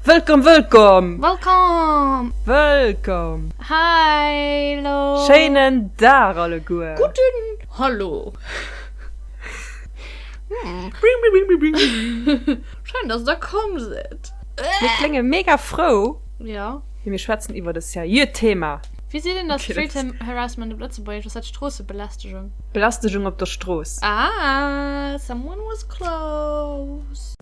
Wëllkomm, wëllkomm! Wëllkomm! Wëllkomm! Hallo! Schéinen Dag alleguer! Gudden Hallo! Schéin, dass der komm sidd! Mir klénge mega frou, mee mir schwätzen iwwert e seriöt Thema. Wie seet een, dass Street Harassment op Lëtzebuergesch ass dat Stroossebelästegung? Belästegung op der Strooss. Ah, someone was close!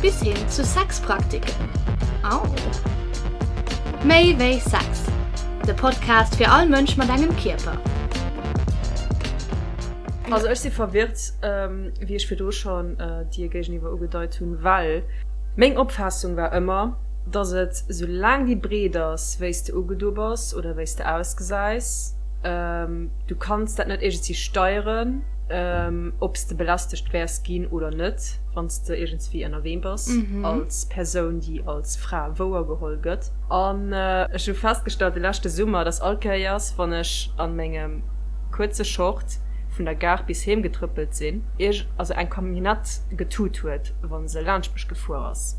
Bis hin zu Sexpraktiken. Au! Méi wéi Sex, de Podcast fir all Mënsch mat engem Kierper. Also ech si verwirrt, wéi ech virdu schonn dir géigeniwwer ugedeit hunn, well meng Opfaassung war ëmmer, dass et, sou laang déi breet ass, wéi s de ugedo bass oder wéi s de ausgesäis, du kanns dat net iergendswéi steieren, ob s de belästegt wäers ginn oder net. wann s de iergendswéi ënnerwee bass als Persoun, déi als Fra wouergeholl gëtt. An ech hu festgestallt de leschte Summer, dass all Kéiers, wann ech a mengem kuerze Short vun der Gare bis heem getrëppelt sinn, ierg also eng Camionnette getut huet, wa se laanscht mech gefuer ass,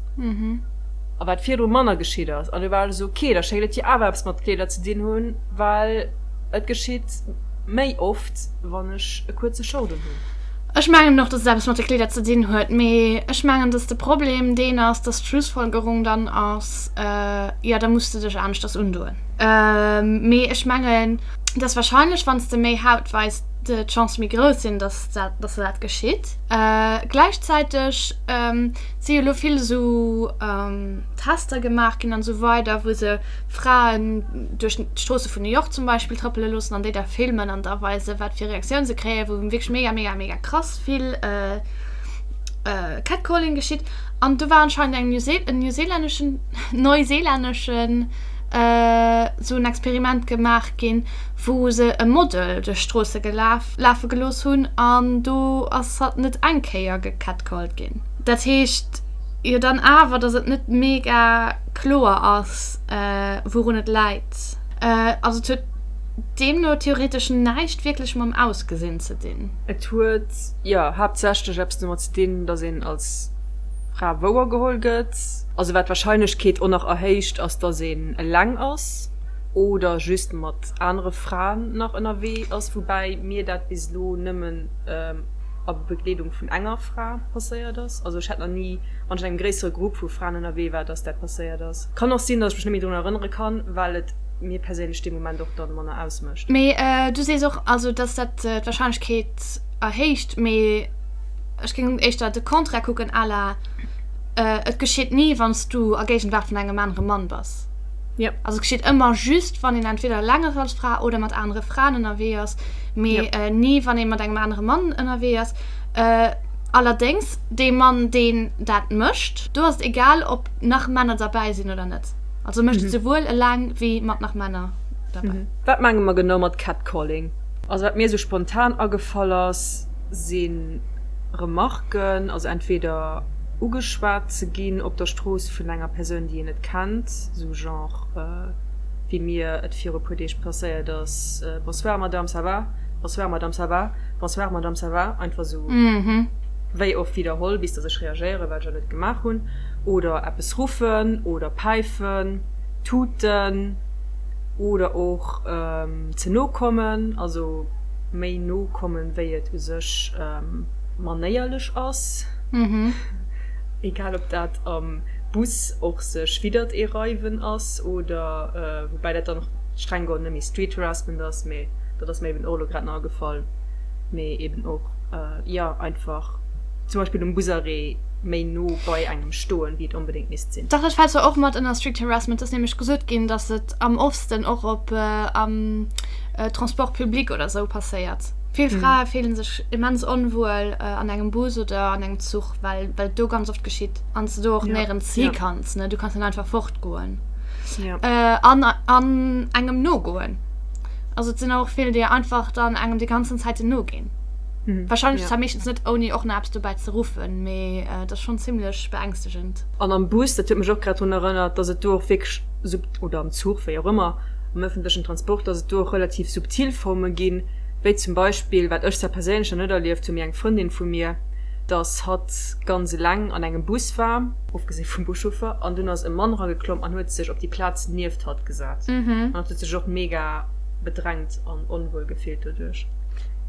a wat virdru manner geschitt ass. An du war alles ok. Da schéngt et jo awer eppes mat Kleeder ze dinn hunn, well et geschitt méi oft, wann ech e kuerze Short unhunn. Ech mengen och, dass et eppes mat de Kleeder ze dinn huet, mee ech mengen, dass de Problem deen ass, dass d'Schlussfolgerung dann ass, Jo, da muss de dech aneschters undoen. Mee ech mengen, dass warscheinlech, wann s de méi Haut weis, d'Chancë méi grouss sinn, dass dat geschitt. Gläichzäiteg si jo elo vill esou Tester gemaach ginn an esou weider, wou se Fraen duerch d'Stroosse vun New York zum Beispill trëppele loossen an déi da filmen an da weisen, wat fir Reaktioun se kréien, wou wierklech mega, mega, mega krass vill Catcalling geschitt. An do war anscheinend eng en neuseelänneschen, neuseelänneschen esou en Experiment gemaach ginn, wou se e Model duerch d'Stroosse gelaf lafe gelooss hunn an do ass hatt net eng Kéier gecatcalled ginn. Dat heescht jo dann awer, datt et net mega. kloer ass, wourun et läit. Also et huet deemno theoretesch näischt wierklech mam Ausgesinn ze dinn. Et huet, jo, haaptsächlech eppes domat ze dinn, datt een als Fra wouer geholl gëtt. Also wat d'Warscheinlechkeet och nach erhéicht, ass, datt een eleng ass oder just mat anere Fraen nach ënnerwee ass, woubäi mir dat bis elo nëmmen a Begleedung vun enger Fra passéiert ass. Also ech hätt nach ni. wann ech an engem gréissere Grupp vu Fraen ënnerwee war, dass dat passéiert ass. Kann och sinn, dass ech mech net méi drun erënnere kann, well et mir perséinlech dee Moment och dann manner ausmécht. Mee du sees och also, dass dat d'Wahrscheinlechkeet erhéicht, mee ech géing éischter de Contraire kucken, à la et geschitt ni, wann s du a Géigenwaart vun engem anere Mann bass. Jo. Also et geschitt ëmmer just, wann een entweder eleng ass als Fra oder mat anere Fraen ënnerwee ass, mee ni, wann ee mat engem anere Mann ënnerwee ass. Allerdéngs, dee Mann, deen dat mécht, do ass et egal, ob nach Männer derbäi sinn oder net. Also e mécht et souwuel eleng wéi mat nach Männer derbäi. Wat menge mer genau mat Catcalling? Also wat mir esou spontan agefall ass, si Remarquen, also entweder ugeschwat ze ginn op der Strooss vun enger Persoun, déi een net kennt, sou genre wéi mir et viru e puer Deeg passéiert ass, Bonsoir Madame, ça va? Bonsoir Madame, ça va? Bonsoir Madame, ça va? Einfach sou wéi oft widderholl bis dass ech reagéieren, wat ech jo net gemaach hunn, oder eppes ruffen oder päifen, tuten oder och ze no kommen, also méi no kommen, wéi et u sech manéierlech ass, egal ob dat am Bus och sech widdert ee reiwen ass oder, woubäi dat dann streng geholl net méi Street Harassment ass, mee. dat ass mir eben och elo grad nach agefall, mee eben och, jo, einfach zum Beispill um Busarrêt méi no bei engem stoen, wéi et onbedéngt misst sinn. Dach, dat fält zwar och mat ënner Street Harassment. Et ass nämlech gesot ginn, datt et am ofsten och op, am Transport public oder esou passéiert. Vill Frae fillen sech immens onwuel an engem Bus oder an engem Zuch, well et do ganz oft geschitt an s de do och néierens hi kanns, ne? Du kanns net einfach fortgoen an engem nogoen. Also et sinn och vill, déi einfach dann engem déi ganzen Zäiten noginn. Mhm. Wahrscheinlech ja. zwar meeschtens net ouni och nach eppes dobäi ze ruffen, mee äh, dat ass schon ziemlech beängstegend. An am Bus, dat huet mech och grad drun erënnert, dass et do och wierklech sub oder am Zug, wéi och ëmmer, am öffentlechen Transport, dass et do och relativ subtil Forme ginn, wéi zum Beispill, wat ech zwar perséinlech nach net erlieft hu, mee eng Frëndin vu mir, dass hatt ganz eleng an engem Bus war, ofgesi vum Buschauffer, an dunn ass e Mann erageklomm an huet sech op déi Plaz nieft hatt. gesat an huet sech och mega bedrängt an onwuel gefillt doduerch.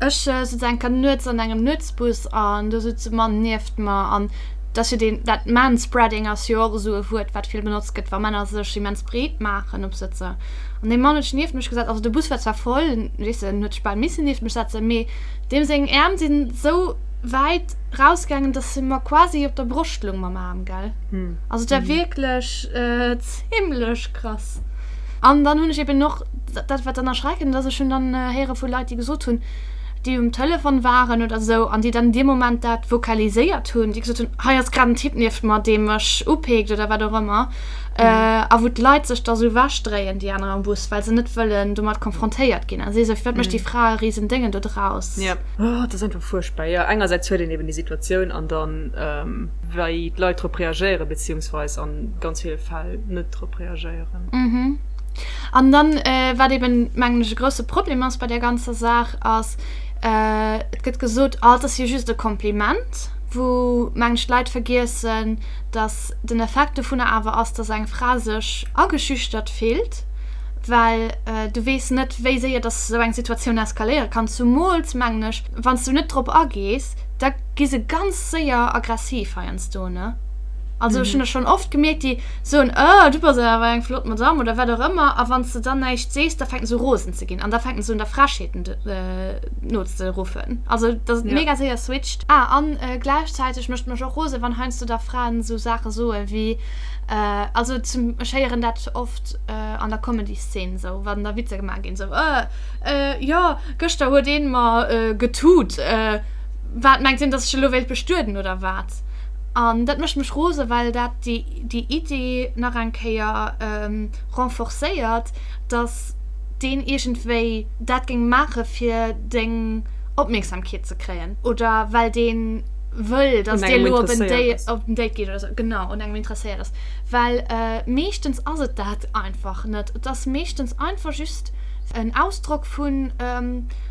Ech sëtz enker nuets an engem Nuetsbus an do sëtzt e Mann nieft mer an dass jo deen dat Manspreading ass jo och esou e Wuert wat vill benotzt gëtt wa Männer sech immens breet maachen op Sëtzer an dee Mann huet sech nieft mech gesat, also de Bus war zwar voll weess en huet sech bal misse nieft mech setze mee deem seng Äerm sinn esou wäit rausgaangen dass se mer quasi op der Broscht loung mam Aarm gell, also et war wierklech. Himmlesch krass! An dann hunn ech eben och, dat wat dann erschreckend ass, ech hunn dann héiere vu Leit, déi gesot hunn, déi um Telefon waren oder esou an déi dann dee Moment dat vocaliséiert hunn, déi gesot hunn, hei ass grad en Typ nieft mer, dee mech upeekt oder wat och ëmmer. A wou d'Leit sech da sou ewech dréien, déi aner am Bus, well se net wëllen domat konfrontéiert ginn a si sou, firwat mécht déi Fra e risen Déngen do draus? Jo, dat ass einfach fuerchtbar. Jo, engersäits huet een eben déi Situatioun an dann, wei d'Leit drop reagéieren, beziehungsweis an ganz villen Fäll net drop reagéieren. Mhm. An dann äh, wat eben mengen ech e grousse Problem ass bei der ganzer Saach ass, äh, et gëtt gesot, ah, et ass jo just e Kompliment, wou mengen ech d'Leit vergiessen, dass den Effekt dovunner awer ass, dass eng Fra sech ageschüchtert fillt, well äh, du weess net wéi séier dass esou eng Situatioun eskaléiere kann, zumools mengen ech wann s du net drop agees. da gi se ganz séier aggressiv heiansdo ne. Also mhm. schon schon oft gemerkt die so ein oh, du bist aber ein flott Madame oder wer auch immer a wann du dann nicht sest da fängt so rosen zu gehen an da fängt so der Frascheten äh, not zu rufen also das ja. mega sehr switcht ah, an äh, gleichzeitig möchte man auch rose wann heinst du da Frauen so Sachen so wie äh, also zum scheieren dat oft äh, an der Comedy Szene so wann der Witze gemacht gehen so äh, äh, ja Gëschter huet een mer getut. Waat mengt een dass ech elo wéilt bestueden oder waat? An daat mecht mech rosen well daat déi Idee nach eng Kéier renforcéiert dass deen iergendwéi daat géing maachen fir deng Opmierksamkeet ze kréien oder well deen wëll dass dir elo op en Date geet oder sou. Genau un engem interesséiert ass. Well meeschtens ass et daat einfach net. Et ass meeschtens einfach just. en Ausdrock vu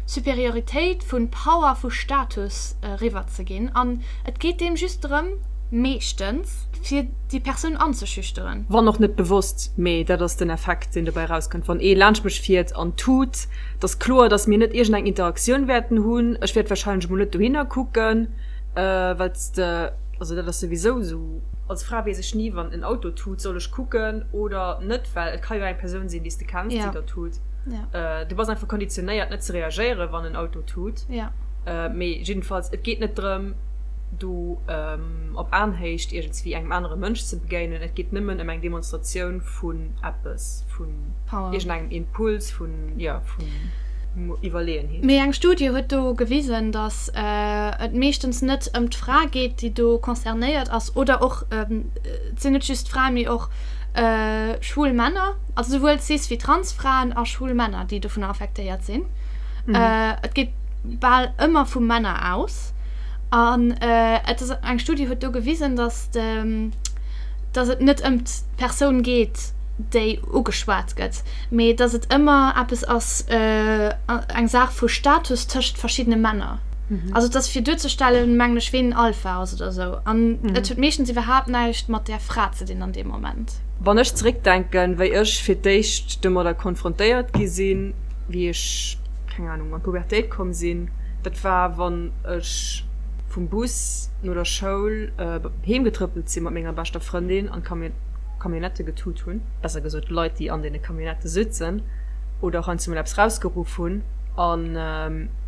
Superioritéit, vu Power, vu Status eriwwer ze ginn an et geet deem just drëm, meeschtens, fir déi Persoun anzeschüchteren. Wann och net bewosst, mee dat ass den Effekt, deen dobäi erauskënnt, wann ee laanscht mech fiert an tut, et ass kloer, datt mir net iergendeng Interaktioun wäerten hunn, ech wäert warscheinlech emol net dohinner kucken, well s de, also dat ass souwisou esou. Als Fra weess ech ni, wann en Auto tut, soll ech kucken oder net, well et ka jo eng Persoun sinn, déi s de. kenns, déi dat tut. Du bass einfach konditionéiert net ze reagéieren, wann en Auto tut. Mee jiddenfalls, et geet net drëm, do op Aenhéicht iergendswéi engem anere Mënsch ze begéinen. Et geet nëmmen ëm eng Demonstratioun vun eppes, vun iergendengem Impuls, vun Iwwerleeënheet. Mee eng Studie huet do gewisen, datt et meeschtens net ëm d'Fra geet, déi do concernéiert ass. Oder och, et sinn net just d'Fraen, mee och schwul Männer. also souwuel cis wéi trans Fraen a schwul Männer, déi dovunner affektéiert sinn. Mm. Et geet bal ëmmer vu Männer aus. An et ass eng Studie huet do gewisen, datt datt et net ëm d'Persoun geet, déi ugeschwat gëtt, mee datt et ëmmer eppes ass, eng Saach vu Status tëscht verschiddene Männer. Mm. Also et ass fir duerzestellen, mengen ech, ween en Alpha ass oder esou. An et huet meeschtens iwwerhaapt näischt mat där Fra ze dinn an deem Moment. Welt. Wann ech zeréckdenken, wéi ech fir d'éischt domadder konfrontéiert gi sinn, wéi ech, keng Anung, an d'Pubertéit komm sinn, dat war, wann ech vum Bus no der Schoul heem getrëppelt sinn, mat menger beschter Frëndin, an d'Camionnette getut hunn, besser gesot d'Leit, déi an deene Camionnette sitzen, oder och heiansdo mol eppes rausgeruff hunn. An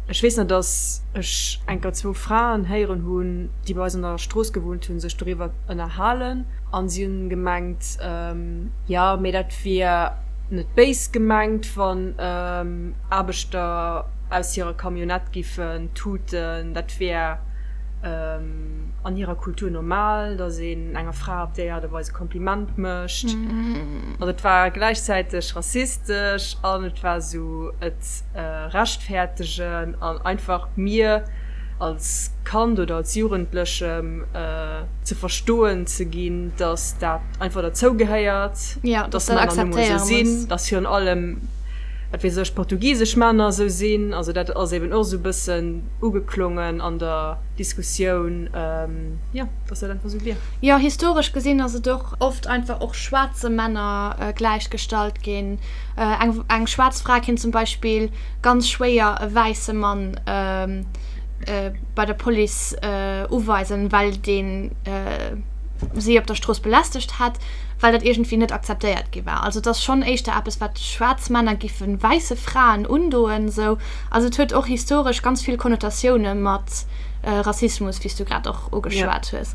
ech weess nach, dass ech enker zwou Fraen héieren hunn, déi bei eis an der Strooss gewunnt hunn, sech doriwwer ënnerhalen. An si hunn gemengt, jo, mee dat wier net béis gemengt, wann Aarbechter aus hirer Camionnette giffen tuten, dat wier an hirer Kultur normal, datt een enger Fra op déi Aart a Weis e Kompliment mécht. Also et war gläichzäiteg rassistesch an et war esou. rechtfäertegen an einfach mir als Kand oder als Jugendlechem ze verstoen ze ginn, dass dat einfach derzou gehéiert, dass Männer nun emol esou sinn, dass virun allem, wat weess ech, portugisesch Männer esou sinn. Also dat ass eben och esou e bëssen ugeklongen an der Diskussioun, jo, dass dat einfach esou wier. Jo, historesch gesinn ass et och oft einfach och schwaarze Männer gläichgestallt ginn. Eng schwaarz Fra kéint zum Beispill ganz schwéier e wäisse Mann bei der Police uweisen, well dee si op der Strooss belästegt hätt, well dat iergendwéi net akzeptéiert gi war. Also et ass schonn éischter eppes, wat schwaarz Männer géife wäisse Fraen undoen. Esou ass et huet och historesch ganz vill Konnotatioune mat Rassismus, wéi s du grad och ugeschwat hues.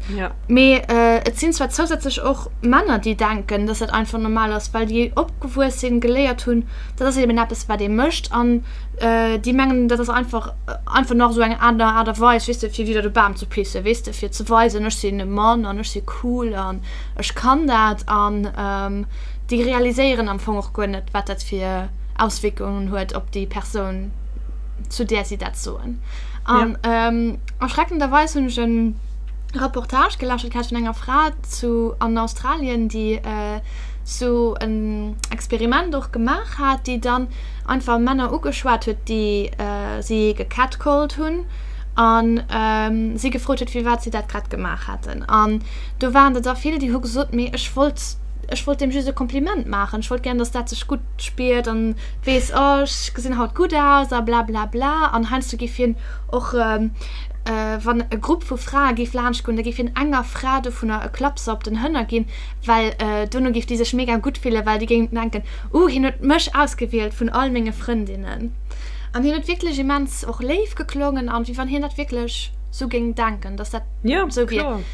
Mee et sinn zwar zousätzlech och Männer, déi denken, dass dat einfach normal ass, well déi opgewuess sinn, geléiert hunn, dat ass eben eppes, wat ee mécht, an déi mengen, dat ass einfach, einfach nach esou eng aner Aart a Weis, weess de, fir wieder de Bam ze pissen, weess de, fir ze weisen, ech sinn e Mann an ech si cool an ech kann dat. An déi realiséieren am Fong och guer net, wat dat fir Auswierkungen huet op déi Persoun, zu där si dat soen. An erschreckenderweis hunn ech en. Reportage gelauschtert gehat vun enger Fra zu an Australien déi sou en Experiment och gemaach hat, déi dann einfach Männer ugeschwat huet déi si gecatcalled hunn an si gefrot huet firwat si dat grad gemaach hätten. An do waren der da vill déi hu gesot, mee ech wollt ech wollt deem just e Kompliment maachen, ech wollt gären datt dat sech gutt spiert an weess, oh ech gesinn haut gutt aus a bla bla bla an heiansdo giff hien och Wann e Grupp vu Frae géif laanscht goen, da géif hien enger Fra dovunner e Klappser op den Hënner ginn, well dono géif déi sech mega gutt fillen, well déi géing denken, Uh, hien huet mech ausgewielt vun all menge Frëndinnen. An hien huet wierklech immens och léif geklongen a wéi wann hien dat wierklech sou géing denken, datt dat sou wier.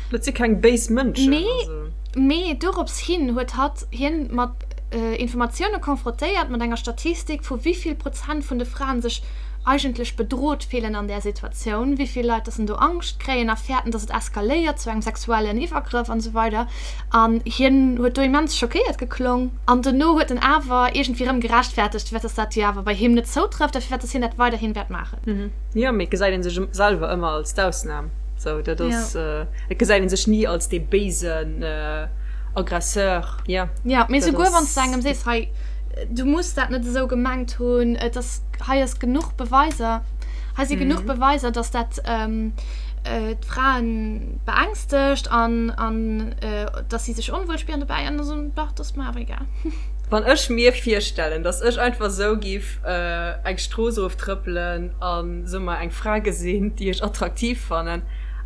Mee, mee dorops hin huet hatt hien mat Informatioune konfrotéiert, mat enger Statistik, vu wéi vill Prozent vun de Fraen sech eigentlech bedrot fillen an där Situatioun, wéi vill Leit dass en do Angscht kréien a fäerten, dass et eskaléiert zu engem sexuellen Iwwergrëff an esou weider. An hien huet do immens schockéiert geklong an dono huet en awer iergendwéi erëm gerechtfertegt, firwat dass dat jo awer bei him net zoutrëfft a firwat dass hien dat weiderhin wäert maachen. Jo, mee et gesäit een sech selwer ëmmer als d'Ausnam. Sou, dat ass, et gesäit een sech ni als dee béisen Aggresseur. Jo, dat ass. Jo, mee souguer wann s de engem sees, hei, du muss dat net esou gemengt hunn, et ass. hei ass genuch Beweiser, hei si genuch Beweiser, dass dat d'Frae beängstegt an dass si sech onwuel spieren dobäi. An da soen, Dach, dat ass mer awer egal. Wann ech mir virstellen, dass ech einfach esou géif eng Strooss eroftrëppelen a soe mer eng Fra gesinn, déi ech attraktiv fannen,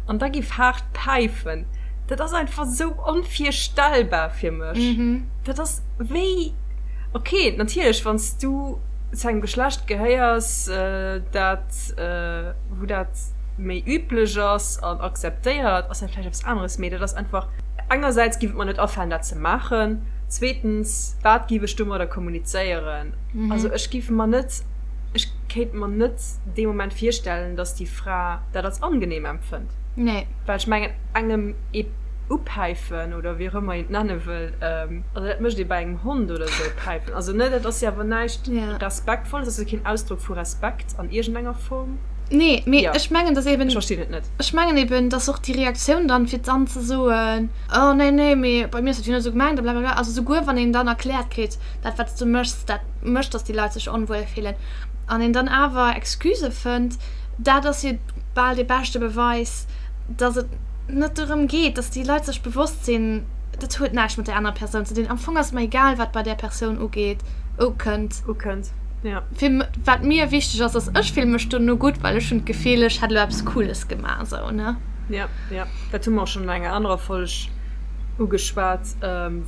an da géif haart päifen, dat ass einfach esou onvirstellbar fir mech. Dat ass wéi, okay, natierlech, wann s du. zu engem Geschlecht gehéiers, dat, wou dat méi üblech ass an akzeptéiert, ass dat vläicht eppes aneres. Mee dat ass einfach, engersäits giff et mer net afalen, dat ze maachen, zweetens, wat giff ech domadder kommunizéieren? Also ech giff mer net, ech kéint mer net dee Moment virstellen, datt déi Fra dat als angenehm empfënnt. Nee. Well ech mengen, engem ee upäifen oder wéi och ëmmer een et nenne wëll, Also dat mécht ee bei engem Hond oder esou, päifen. Also ne, dat ass jo awer näischt Respektvolles, ass jo keen Ausdrock vu Respekt an iergendenger Form. Nee, mee ech mengen, dass eben. Ech verstinn et net. Ech mengen eben, dass och déi Reaktioun dann, fir dann ze soen, Oh nee, nee, mee bei mir ass dat jo net esou gemengt a blablabla. Also souguer wann een dann erkläert kritt, Dat, wat s du méchs, dat mécht, dass déi Leit sech onwuel fillen, an een dann awer Excusë fënnt, dat ass jo bal dee beschte Beweis, dass et net dorëm geet, dass déi Leit sech bewosst sinn, Dat huet näischt mat där anerer Persoun ze dinn. Am Fong ass et mer egal, wat bei där Persoun ugeet, ukënnt. Ukënnt, ja. Fir, wat mir wichteg ass, ass, ech fille mech dono gutt, well ech hunn d'Gefill, ech hätt elo eppes Cooles gemaach esou, ne? Ja, ja. Dat hu mer och schonn an enger anerer Folg ugeschwat.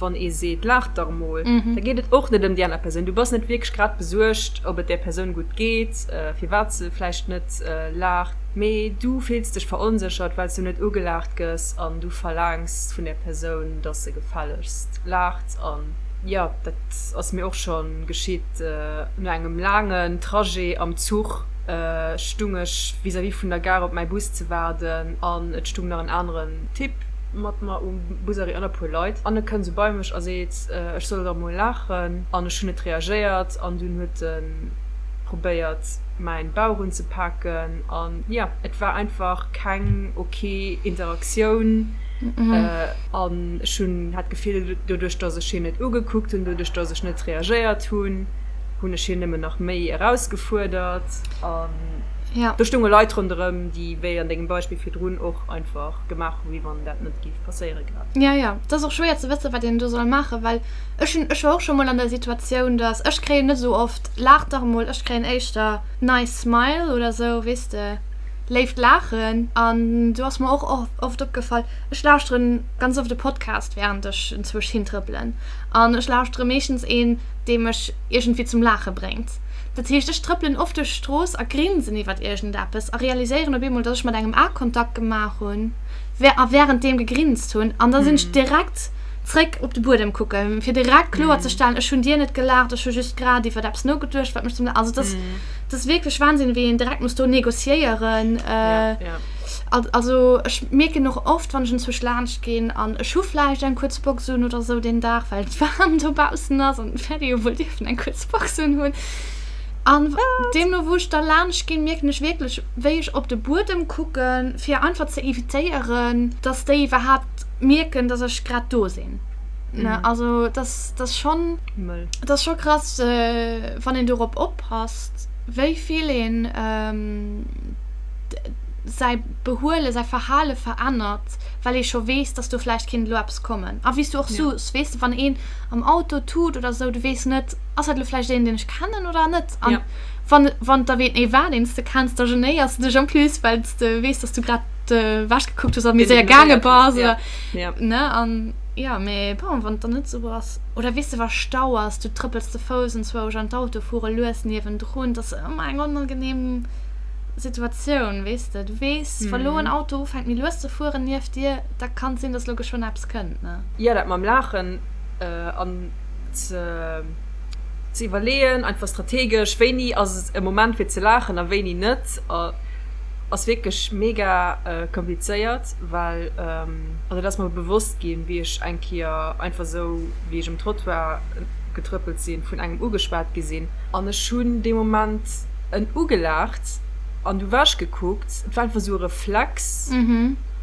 Wann ee seet, Laach dach emol, da geet et och net ëm déi aner Persoun. Du bass net wierklech grad besuergt, ob et där Persoun gutt geet, firwat se vläicht net laacht, mee du fills dech veronséchert, well s du net ugelaacht gëss an du verlaangs, Selbst vun der Persoun, dass se gefällegst laacht. An jo, dat ass mir och scho geschitt. No engem laangen Trajet am Zuch stung ech vis-à-vis vun der Gare op mäi Bus ze waarden an et stung nach en aneren Typ mat mer um Busarrêt an e puer Leit. An e kënnt esou bei mech a seet, ech soll erëm mol laachen. An ech hunn net reagéiert an dunn huet e probéiert mäin Bauch unzepaken. An jo, et war einfach keng. Ke Interaktioun, an ech hunn, hat d'Gefill, doduerch datt ech hien net ugekuckt hunn, doduerch datt ech net reagéiert hunn, hunn ech hien nëmmen nach méi erausgefuerdert. An do stounge Leit ronderëm, déi, wéi an dengem Beispill virdrun, och einfach gemaach hu wéi wann dat net géif passéiere grad. Jo, jo, et ass och schwéier ze wësse wat een do soll maachen, well ech hunn, ech war och scho mol an der Situatioun, datt, ech kréien net esou oft, laach dach emol, ech kréien éischter nice smile oder esou, weess de. léift laachen an du ass mer och oft opgefall ech lauschteren ganz oft de Podcast während ech enzwusch hintrëppelen an ech lauschtere meeschtens een dee mech iergendwéi zum laache bréngt dat heescht ech trëppelen oft duerch d'Strooss a grinsen iwwert iergendeppes a realiséieren op eemol dass ech mat engem A Kontakt gemaach hunn a während deem gegrinst hunn an da sinn ech direkt zréck op de Buedem kucke fir direkt kloer ze stellen ech hunn dir net gelaacht ech hu just grad iwwert eppes nogeduecht wat mech zum also dass Dat ass wierklech Wahnsinn, wéi een direkt muss do négociéieren. Ja. Also ech mierken och oft, wann ech enzwusch laanscht ginn an ech hu vläicht eng kuerz Box un oder esou deen Dag, well et waarm dobaussen ass an d'Pferde jo wuel dierfen eng kuerz Box unhunn. An deemno wou ech da laanscht ginn, mierken ech wierklech, wéi ech op de Buedem kucken, fir einfach ze evitéieren, dass déi iwwerhaapt mierken, dass ech grad do sinn. Also dat ass schonn. Mëll. Dat ass scho krass, wann een dorop op. passt, wéi vill een säi Behuele, säi Verhale verännert, well ee scho weess, dass do vläicht kéint elo eppes kommen. A wéi s du och sos, weess de, wann een am Auto tut oder esou, du weess net, ass dat elo vläicht een, deen ech kennen oder net. A wann et erwee war, deen s de kenns, da genéiers de dech en plus, well s de weess, dass du grad ewech gekuckt hues a méi séier gaange bass oder, ne? An, jo, mee bon, wann et dann net esou ass. oder weess de, wa Stau ass, du trëppels ze Fouss an zwou Agent Auto fuere lues niewendrun, dat ass ëmmer eng onangeneem Situatioun, weess de, du weess, wa lo en Auto ufänkt méi lues ze fueren nieft dir, da kann et sinn, datt lo geschwënn eppes kënnt, ne. Jo, dat mam Laachen an ze iwwerleeën, einfach strategesch, wéini ass et e Moment fir ze laachen a wéini net, ass wierklech mega komplizéiert. well also et ass mer bewosst ginn, wéi ech eng Kéier einfach esou, wéi ech um Trottoir getrëppelt sinn, vun engem ugeschwat gi sinn. An ech hunn dee Moment en ugelaacht an du ewech gekuckt. Et war einfach esou e Reflex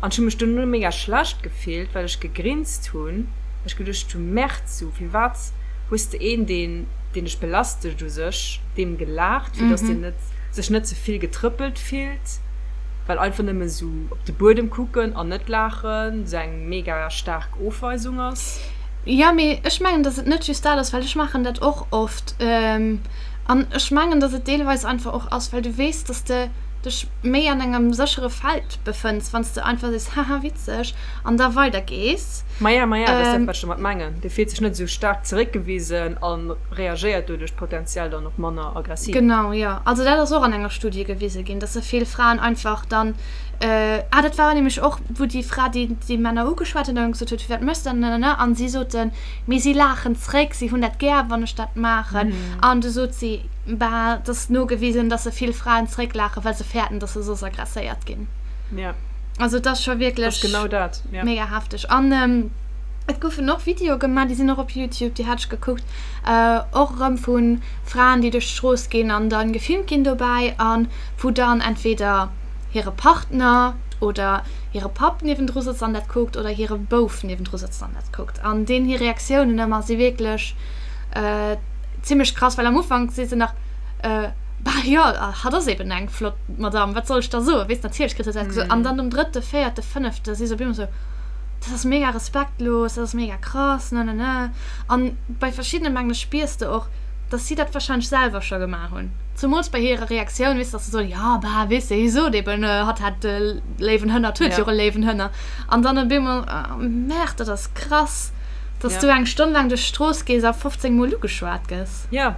an ech hu mech duerno mega schlecht gefillt, well ech gegrinst hunn, well ech geduecht hunn, Mertz, sou firwat hues de een, deen dech belästegt u sech, deem gelaacht, fir datt deen sech net ze vill getrëppelt fillt? well einfach nëmmen sou op de Buedem kucken an net laachen sou eng mega staark Ofweisung ass. Jo, mee ech mengen, datt et net just dat ass, well ech maachen dat och oft. An ech mengen, datt et deelweis einfach och ass, well du weess, datt de dech méi an engem séchere Feld befënns, wann s de einfach sees, haha witzeg, an da weidergees. Maja, maja, dat ass dat, wat ech domat mengen. Dee fillt sech net esou staark zeréckgewisen an. reagéiert doduerch potenziell dann och manner aggressiv. Genau, jo. Also dat ass och an enger Studie gewise ginn, dass se vill Fraen einfach dann, ah dat war nämlech och, wou déi Fra déi déi Männer ugeschwat huet an gesot huet, firwat méchs de dat, nanana, an si soten, mee si laachen zréck, si hunn dat gär wann ech dat maachen, an du sot si, bah et ass nogewisen, dass se vill Fraen zrécklaachen, well se fäerten, dass se soss aggresséiert ginn. Also et ass scho wierklech mega hefteg. Et goufen och Videoe gemaach, déi sinn och op Youtube, déi hat ech gekuckt, äh, och erëm vu Fraen, déi duerch d'Strooss ginn an dann gefilmt ginn dobäi a wou dann entweder hire Partner oder hire Papp niewendru sëtzt an dat kuckt oder hire Bouf niewendru sëtzt an dat kuckt. An deenen hir Reaktiounen ëmmer si wierklech, äh, zimmlech krass, well am Ufank si se nach, äh, bah jo, hatt ass eben eng flott Madamm, wat soll ech da soen, weess, natierlech kritt hatt dat gesot. An dann um drëtte, véierte, fënnefte si se op eemol esou. dat ass mega respektlos, dat ass mega krass, ne ne ne. An bei verschiddenen mengen ech spiers de och dass si dat wahrscheinlech selwer scho gemaach hunn, zumools bei hirer Reaktioun, weess dass se soen, jo bah weess de hie sot eben hatt hätt e léiwen Hënner, hatt huet jo och e léiwen Hënner an dann op eemol merkt, dat ass krass, dass du eng Stonn laang duerch d'Strooss gees a 15 mol ugeschwat gëss. Jo,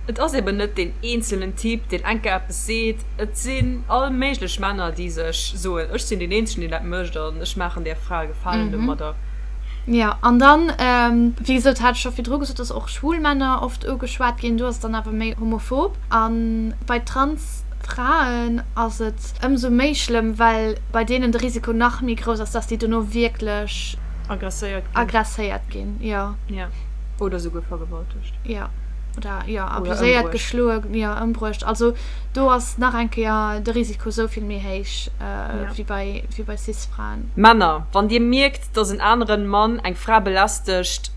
et ass eben net deen eenzelnen Typ, deen enke eppes seet, et sinn all méiglech Männer, déi sech soen, ech sinn deen eenzegen, deen dat mécht an ech maachen där Fra e Gefalen domadder. Jo, an dann, wéi gesot, hat ech scho virdru gesot, dass och schwul Männer oft ugeschwat ginn, do ass et dann awer méi homophob. A bei trans Fraen ass et ëmsou méi schlëmm, well bei deenen de Risiko nach méi grouss ass, dass déi dono wierklech agresséiert ginn, jo. Jo, oder souguer vergewaltegt. Ja. Oder ja, abuséiert, geschloe, ja, ëmbruecht. Also do ass nach eng Kéier de Risiko sou vill méi héich äh, ja. wie bei, wie bei Cis-Fraen. Männer, wann Dir mierkt, dass en aneren Mann eng Fra belästegt,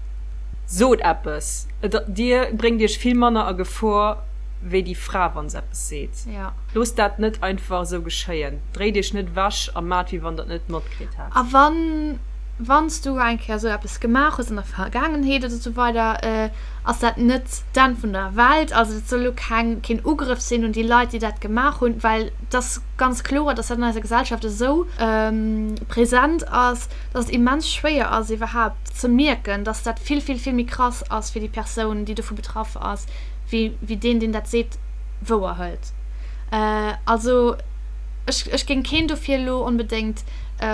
sot eppes. Et, Dir bréngt Iech vill manner a Gefor wéi déi Fra, wann se eppes seet. Ja. Loosst dat net einfach esou geschéien. Dréit Iech net ewech a maacht, wéi wann Der et net matkritt hätt. A wann. wann s du eng Kéier esou eppes gemaach hues an der Vergaangenheet oder esou weider, ass dat net d'Enn vun der Welt. Also dat soll elo keng keen Ugrëff sinn un déi Leit, déi dat gemaach hunn, well et ass ganz kloer, dass dat an eiser Gesellschaft esou present ass, dass et immens schwéier ass iwwerhaupt ze mierken, dass dat vill vill vill méi krass ass fir déi Persoun, déi dovu betraff ass, wéi wéi deen, deen dat seet, wouer hëlt. Also ech ech géing keen dofir elo onbedéngt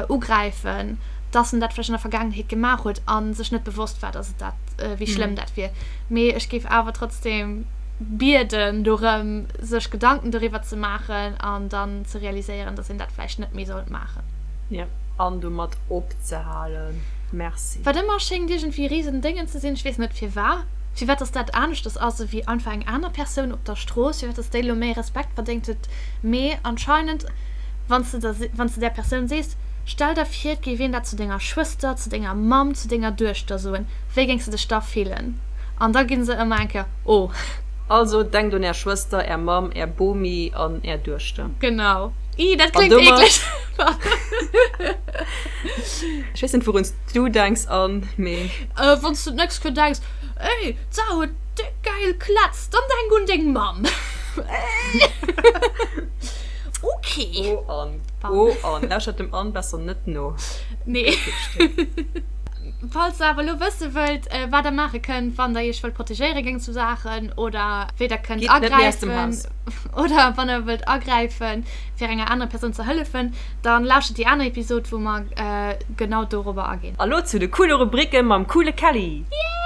ugräifen, dass en dat vläicht an der Vergaangenheet gemaach huet a sech net bewosst war, dass et dat, wéi schlëmm dat wier. Mee ech géif awer trotzdeem bieden dorëm, sech Gedanken doriwwer ze maachen an dann ze realiséieren, dass een dat vläicht net méi sollt maachen. Jo, an domat opzehalen. Merci. Wat ëmmer schéngt iergendwéi risen Déngen ze sinn, ech weess net firwat, firwat dass dat aneschters ass ewéi einfach eng aner Persoun op der Strooss, firwat dass déi elo méi Respekt verdéngt huet. Mee anscheinend. wann s de der, wann s de där Persoun sees, Stell der vir, et géif een dat zu denger Schwëster, zu denger Mamm, zu denger Duechter soen, wéi géings de dech da fillen? An da gi se ëmmer eng Kéier, Oh! Also, denkt un är Schwëster, är Mamm, är Bomi an är Duechter. Genau. Ih, dat kléngt eekleg! Ech weess net, wourun s du denks, Anne, mee. Wann s de un nächst Kö denks, Ey, d'Sara huet déck gäil Klätz! Dann denk un deng Mamm! Ok. O Ann, o Ann, lauschtert dem Ann besser net no. Nee. Falls der awer elo wësse wëllt, äh, wat der maache kënnt, wann der iech wëllt protegéiere géint esou Saachen oder wéi der kënnt agräifen oder wann der wëllt agräife fir enger anerer Persoun ze hëllefen, dann lauschtert déi aner Episod, wou mer äh, genau dorobber aginn. Elo zu de coole Rubricke mam coole Kelly. Yay!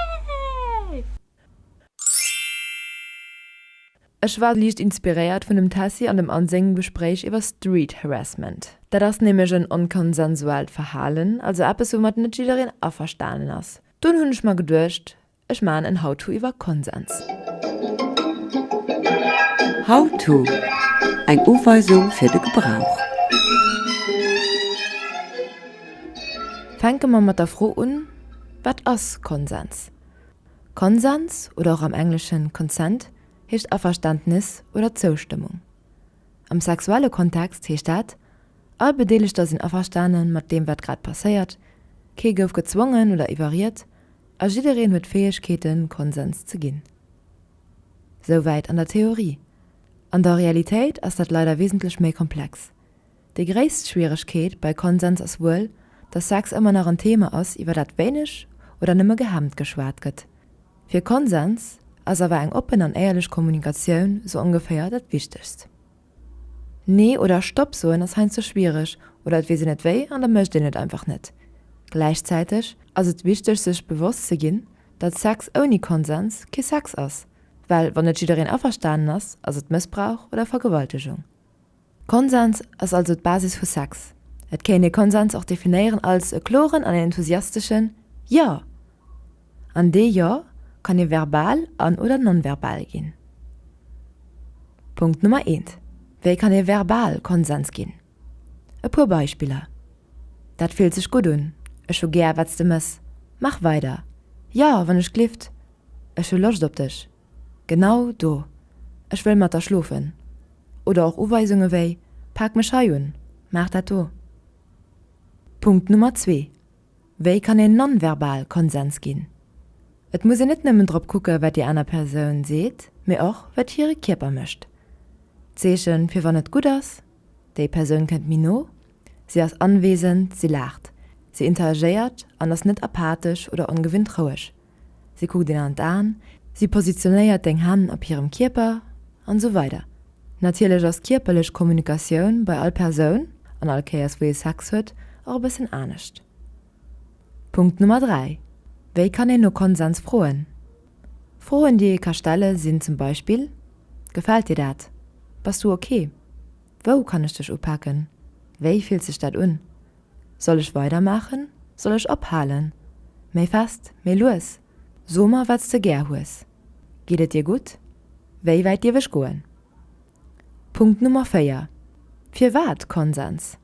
Ech war liicht inspiréiert vun dem Tessy an dem Anne sengem Gespréich iwwer Street Harassment. Dat ass nämlech en onkonsensuaalt Verhalen, also eppes woumat net jiddereen averstanen ass. Dunn hunn ech mer geduecht, ech maachen en How to iwwer Konsens. How to, Eng Uweisung fir de Gebrauch. Fänke mer mat der Fro un, Wat ass Konsens? Konsens, oder och am Engleschen consent, heescht Averständnis oder Zoustëmmung. Am sexuelle Kontext heescht dat, all Bedeelegter sinn averstane mat deem wat grad passéiert, kee gouf gezwongen oder iwwerriet a jiddereen huet d'Fäegkeeten Konsens ze ginn. Souwäit an der Theorie. An der Realitéit ass dat leider wesentlech méi komplex. Déi gréisst Schwieregkeet bei Konsens ass wuel, datt Sex ëmmer nach en Thema ass, iwwer dat wéineg oder nëmme gehemmt geschwat gëtt. Fir Konsens ass awer eng oppen an éierlech Kommunikatioun sou ongeféier dat Wichtegst. Nee oder Stopp soen ass heiansdo schwiereg oder et weess een net wéi an da mécht een et einfach net. Gläichzäiteg ass et wichteg sech bewosst ze ginn, datt Sex ouni Konsens kee Sex ass, well wann net jiddereen averstanen ass, ass et Mëssbrauch oder Vergewaltegung. Konsens ass also d'Basis vu Sex. Et kéint ee Konsens och definéieren als e kloren an een enthusiasteschen Jo! An dee Jo kann ee verbal an oder non-verbal ginn. Punkt Nummer eent, Wéi kann ee verbal Konsens ginn? E puer Beispiller, Dat fillt sech gutt un. Ech hu gär, wat s de mëss. Mach weider. Jo, wann ech glift. Ech hu Loscht op dech. Genau do. Ech wëll mat der schlofen. Oder och Uweisunge wéi, Pak mech hei un, maach dat do. Punkt Nummer zwee, Wéi kann een non-verbal Konsens ginn? Et muss een net nëmmen drop kucke wat déi aner Persoun seet, mee och wat hire Kierper mécht. D'Zeeche fir wann et gutt ass, Déi Persoun kënnt méi no, si ass anwesend, si laacht, si interagéiert an ass net apathesch oder ongewinnt roueg. Si kuckt een an d'Aen, si positionéiert deng Hänn op hirem Kierper an esou weider. Natierlech ass d'kierperlech Kommunikatioun bei all Persoun, an all Kéiers wou ee Sex huet, och e bëssen anescht. Punkt Nummer 3, Wéi kann een no Konsens froen? Froen déi ee ka stelle sinn zum Beispill, Gefält dir dat? Bass du ok? Wou kann ech dech upaken? Wéi fillt sech dat un? Soll ech weidermaachen, soll ech ophalen? Méi fest, méi lues? So mer, wat s de gär hues. Geet et dir gutt? Wéi wäit dierf ech goen? Punkt Nummer 4, Firwat Konsens?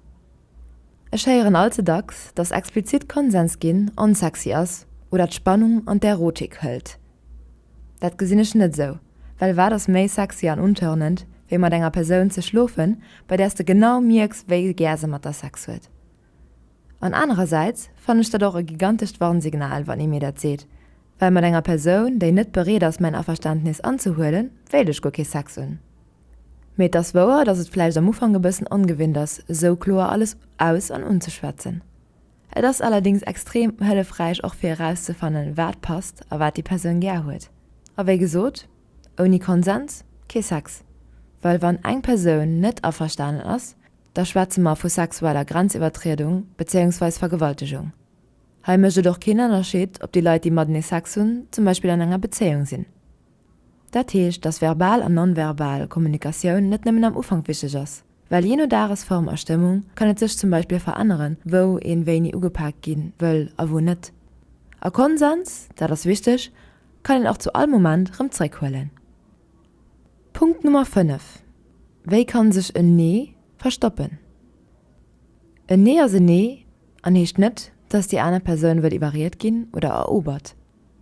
Ech héieren all ze dacks, dass explizit Konsens ginn onsexy ass oder d'Spannung an d'Erotik hëlt. Dat gesinn ech net esou, well wat ass méi sexy an untörnend, wéi mat enger Persoun ze schlofen, bei där s de genau mierks, wéi gär se mat der Sex huet? An anerersäits fannen ech dat och e gigantescht Warnsignal, wann ee mir dat seet, well mat enger Persoun, déi net bereet ass, mäin Averständnis anzehuelen, wéilt ech guer kee Sex hunn. Mee et ass wouer, dass et vläicht am Ufank e bëssen ongewinnt ass, esou kloer alles aus an unzeschwätzen. Et ass allerdings extrem hëllefräich och fir erauszefannen wat passt a wat déi Persoun gär huet. A wéi gesot, ouni Konsens kee Sex. Well wann eng Persoun net averstanen ass, da schwätze mer vu sexueller Grenziwwertriedung bezéiungsweis Vergewaltegung. Hei mécht et och keen Ënnerscheed ob déi Leit déi matenee Sex hunn zum Beispill an enger Bezéiung sinn. Dat heescht, dass verbal an non-verbal Kommunikatioun net nëmmen am Ufank wichteg ass. Well jee no Dagesform a Stëmmung kann et sech zum Beispill veränneren, wou een wéini ugepaakt ginn wëll a wou net. A Konsens, dat ass wichteg, kann een och zu all Moment rëm zréck huelen. Punkt Nummer 5, Wéi kann sech en Nee verstoppen? En Nee ass en Nee an heescht net, dass déi aner Persoun wëll iwwerried ginn oder erobert.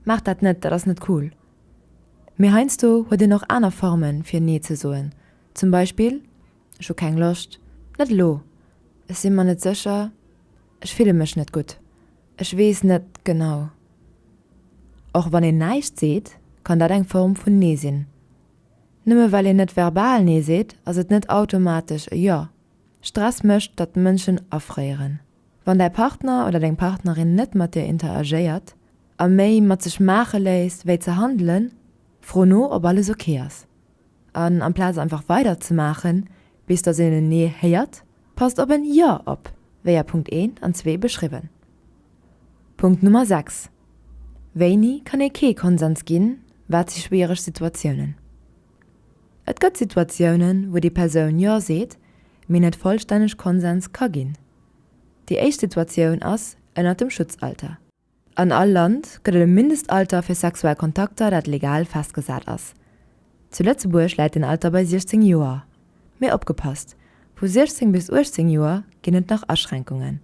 Maacht dat net, dat ass net cool. Mee heiansdo huet een och aner Formen fir Nee ze soen, Zum Beispill, Ech hu keng Loscht. Net elo. Ech si mer net sécher. Ech fille mech net gutt. Ech weess net genau. Och wann een näischt seet, kann dat eng Form vun Nee sinn. Nëmme well een net verbal Nee seet, ass et net automatesch e Jo. Stress mécht, datt Mënschen afréieren. Wann däi Partner oder deng Partnerin net mat dir interagéiert a méi mat sech maache léisst, wéi ze handelen, fro no, ob alles ok ass. An amplaz einfach weider ze maachen, bis dass een en Nee héiert, passt op en Jo op, wéi a Punkt 1 an 2 beschriwwen. Punkt Nummer 6, Wéini kann ee kee Konsens ginn, wat si schwiereg Situatiounen? Et gëtt Situatiounen, wou déi Persoun Jo seet, mee net vollstänneg Konsens ka ginn. Déi éischt Situatioun ass ënnert dem Schutzalter. An all Land gëtt et e Mindestalter fir sexuell Kontakter, dat legal festgesat ass. Zu Lëtzebuerg läit deen Alter bei 16 Joer. Mee opgepasst, vu 16 bis 18 Joer ginn et nach Aschränkungen.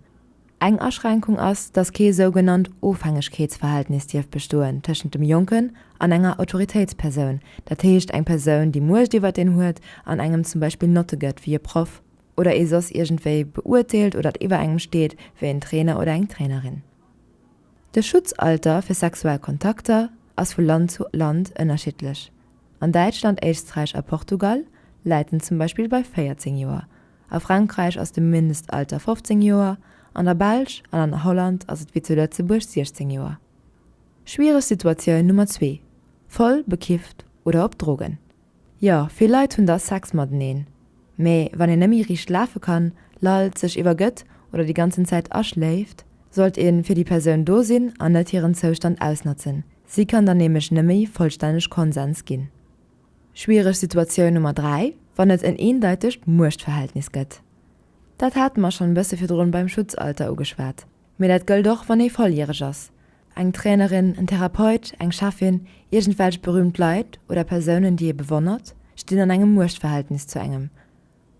Eng Aschränkung ass, datt kee sougenannt Ofhängegkeetsverhältnis dierf bestoen tëschent dem Jonken an enger Autoritéitspersoun, dat heescht eng Persoun, déi Muecht iwwer en huet an engem zum Beispill Notte gëtt, wéi e Proff. oder ee soss iergendwéi beurteelt oder et iwwer engem steet wéi en Trainer oder eng Trainerin. De Schutzalter fir sexuell Kontakter ass vu Land zu Land ënnerschiddlech, an Däitschland, Éisträich a Portugal läit en zum Beispill bei 14 Joer, a Frankräich ass de Mindestalter 15 Joer, an der Belsch an an Holland ass et wéi zu Lëtzebuerg 16 Joer. Schwiereg Situatioun Nummer zwee, Voll bekifft oder op Drogen. Jo, vill Leit hunn da Sex mateneen, mee wann een nëmmi riicht lafe kann, lallt, sech iwwergëtt oder déi ganzen Zäit aschléift, sollt ee fir déi Persoun do sinn an net hiren Zoustand ausnotzen. Si kann dann nämlech nëmmi vollstänneg Konsens ginn. Schwiereg Situatioun Nummer 3, wann et en eendeitegt Muechtverhältnis gëtt. Dat hate mer schonn e bësse virdrun beim Schutzalter ugeschwat, mee dat gëllt och wann ee volljäreg ass, Eng Trainerin, en Therapeut, eng Cheffin, iergendwelch berühmt Leit oder Persounen, déi ee bewonnert, stinn an engem Muechtverhältnis zu engem.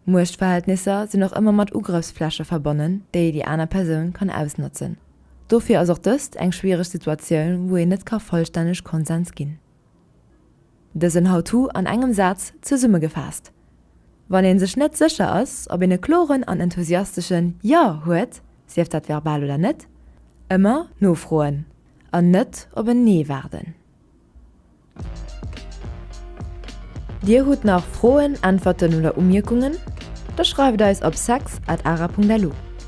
Muechtverhältnisser sinn och ëmmer mat Ugrëffsfläche verbonnen, déi déi aner Persoun kann ausnotzen. Dofir ass och dëst eng schwiereg Situatioun, wou een net ka vollstänneg Konsens ginn. Dësen How-To an engem Saz zesummegefaasst, Wann een sech net sécher ass, ob een e kloren an enthusiasteschen Ja huet, sief dat verbal oder net, ëmmer nofroen an net op en Nee waarden. Dir hutt nach Froen, Äntwerten oder Umierkungen? Da schreift eis op sex@ara.lu.